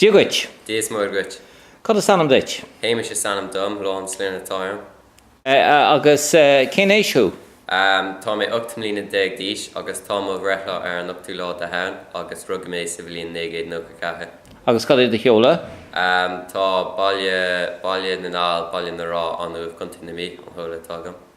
Dia dhuit. Dia is Muire dhuit. Cad is ainm duit? Hamish is ainm dom, Law an sloinne atá orm. Agus cén aois thú? Tá mé ocht mbliana déag d'aois agus tá mo bhreithlá ar an ochtú lá de Shamhain agus rugadh mé sa bhliain naoi gcéad nócha ceathair. Agus cad é do sheoladh? Tá baile Baile na nGall, Baile na Rá, An Uaimh, Co. na Mí, an seoladh atá agam.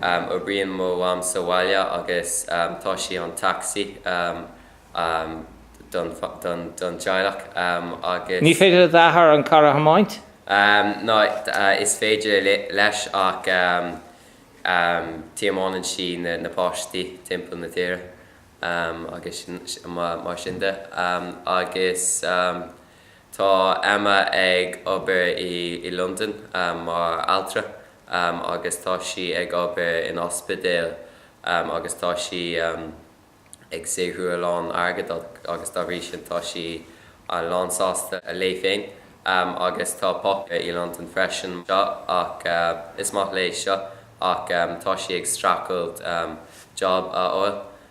Oibríonn mo mham sa bhaile agus tá sí an tacsaí don teaghlach agus. Ní féidir le d'athair an carr a thiomáint? No, is féidir leis ach tiomáineann sí na páistí timpeall na tíre agus mar sin de. Agus Tá Emma ag obair i Londain mar altra agus tá sí ag obair in ospidéal agus tá sí ag saothrú a lán airgead agus dá bhrí sin tá sí lán sásta léi féin. Agus tá Pop i Londain freisin so ach is maith léi so ach tá sí ag streachailt job a fháil.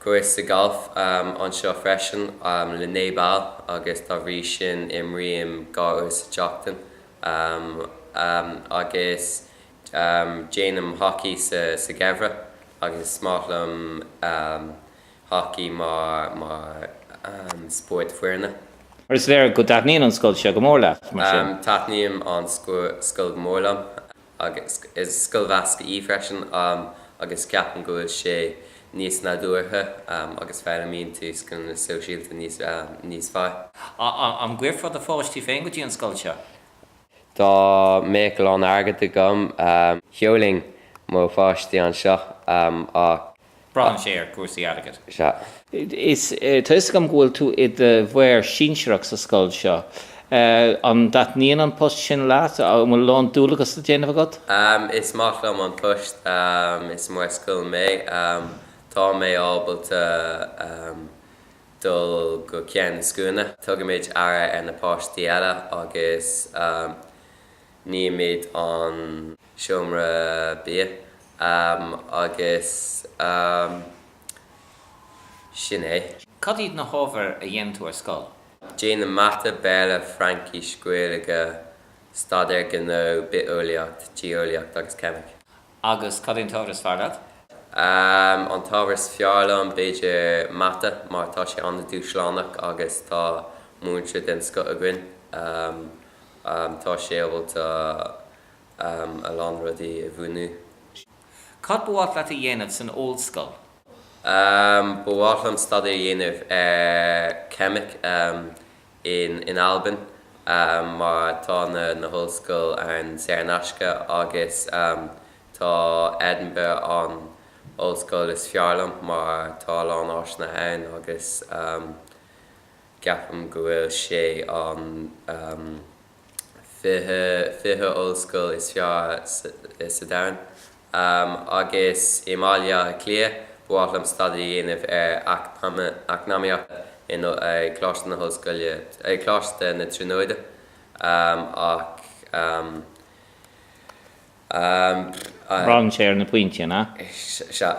cúrsa gailf anseo freisin le naoi bpoll agus dá bhrí sin imrím dhá uair sa tseachtain agus déanaim hacaí sa gheimhreadh agus is maith liom hacaí mar spórt foirne. Is léir go dtaitníonn an scoil seo go mór leat? Taitníonn an scoil go mór liom. Agus is scoil mheasctha í freisin agus ceapaim go bhfuil sé níos nádúrtha agus foghlaimíonn tú scileanna sóisialta níos fearr. An gcuirfeá do pháistí féin go dtí an scoil seo? Dá mbeadh a lán airgead agam, sheolfainn mo pháistí anseo ach Braitheann sé ar chúrsaí airgid. Sea. Is tá 'fhios agam go bhfuil tú i do Mhaor Sinsearach sa scoil seo. An dtaitníonn an post sin leat? An bhfuil a lán dualgas le déanamh agat? Is maith liom an post. Is Maor Scoile mé. Tá mé ábalta dul go ceann na scuaine. Tugaimid aire ar na páistí eile agus Nímid an seomra bia agus sin é. Cad iad na hábhair a dhéanann tú ar scoil? Déanaim Mata, Béarla, Fraincis, Gaeilge, Staidéar Gnó, Bitheolaíocht, Geolaíocht agus Ceimic. Agus cad é an t-ábhar is fearr leat? An t-ábhar is fearr liom, b'fhéidir, Mata, mar tá sé an-dúshlánach agus tá múinteoir den scoth againn. Tá sé ábalta a lán rudaí a mhúineadh. Cad ba mhaith leat a dhéanamh san ollscoil? Ba mhaith liom staidéar a dhéanamh ar cheimic. in in Albain mar tá na na hollscoil ann saor in aisce agus tá Edinburgh an ollscoil is fearr liom mar tá a lán áiseanna ann agus ceapaim go bhfuil sé an fiche, fiche ollscoil is fearr sa domhan. Agus i mBaile Átha Cliath, ba mhaith liom staidéar a dhéanamh ar eacnamaíocht in Coláiste na hOllscoile, Coláiste na Tríonóide, ach eh. Braitheann sé ar na pointí. Sea.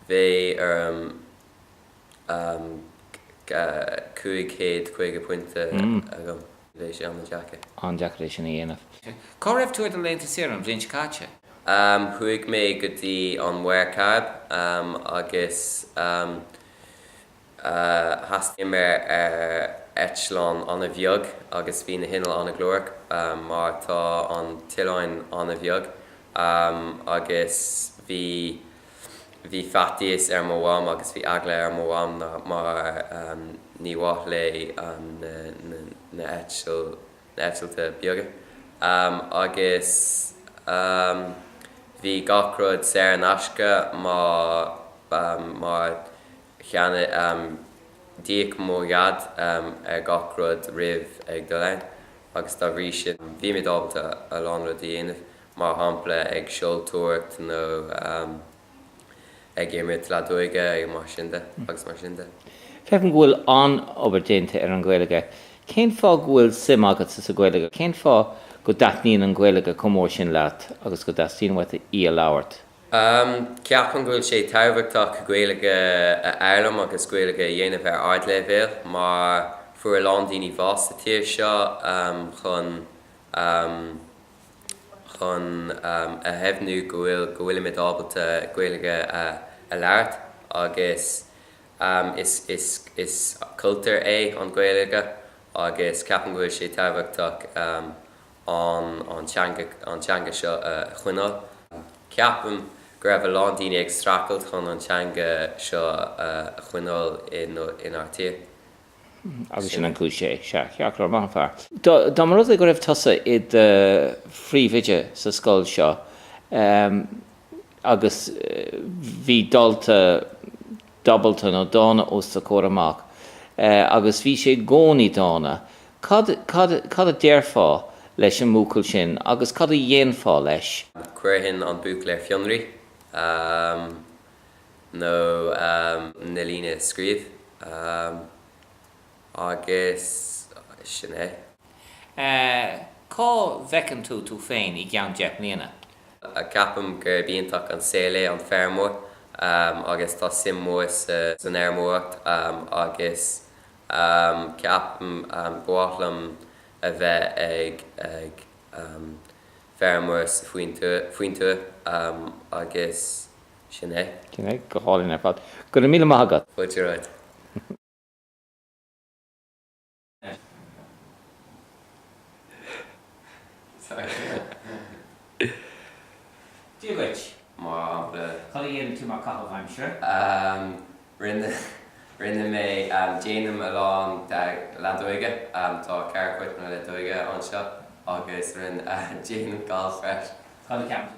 Bheadh orm. 550 pointe agam. Bheadh sé an-deacair. an-deacair é sin a dhéanamh. Cá raibh tú ar do laethanta saoire an bhliain seo caite? Chuaigh mé go dtí an Mhuir Chairib agus thaistil muid ar eitleán an-bheag agus bhí na hinnill an-ghlórach mar tá an t-oileáin an-bheag agus bhí. Bhí faitíos ar mo mham agus bhí eagla ar mo mham mar ní mhaith léi na heitiltí beaga agus bhí gach rud saor in aisce mar cheannaigh, d'íoc mo Dhaid ar gach rud roimh ag dul ann agus dá bhrí sin bhí muid ábalta a lán rud a dhéanamh. mar shampla ag seoltóireacht nó ag imirt leadóige ar sin de agus mar sin de. Feicim go bhfuil an-obair déanta ar an Ghaeilge. Cén fáth go bhfuil suim agatsa sa Ghaeilge? Cén fáth go dtaitníonn an Ghaeilge chomh mór sin leat agus go dteastaíonn uait í a labhairt? Ceapaim go bhfuil sé tábhachtach Gaeilge a fhoghlaim agus Gaeilge a dhéanamh ar ardleibhéal mar fuair a lán daoine bás sa tír seo chun. chun a dheimhniú go bhfuil go bhfuilimid ábalta Gaeilge a labhairt agus is is is cultúr é an Gaeilge agus ceapaim go bhfuil sé tábhachtach an an teanga an teanga seo a choinneáil. Ceapaim go raibh a lán daoine ag streachailt chun an teanga seo a choinneáil i inár tír. agus sin an cúis é. Sea, ceart, maith an fear. Dá mba rud é go raibh tusa i do phríomhoide sa scoil seo agus bhí dalta diabhalta nó dána os do chomhair amach agus bhí sé i gcónaí dána, cad, cad, cad a déarfá leis an mbuachaill sin agus cad a dhéanfá leis? Cuirfinn an buachaill ar fionraí. nó na líne a scríobh agus sin é. a. Cá bhfeiceann tú tú féin i gceann deich mbliana? a. Ceapaim gurb iontach an saol é an feirmeoir agus tá suim mhór san fheirmeoireacht agus ceapaim ba mhaith liom a bheith ag feirmeoir sa faoin tuaith agus. Sin é. Sin é. Go hálainn ar fad. Go raibh míle maith agat. Fáilte romhat. Dia dhuit. Maith. Cad a dhéanann tú mar chaitheamh aimsire? Rinne mé, déanaim a lán leadóige, tá ceithre chúirt leadóige anseo, agus rinne déanaim galf freisin. Cad a cheapann tú?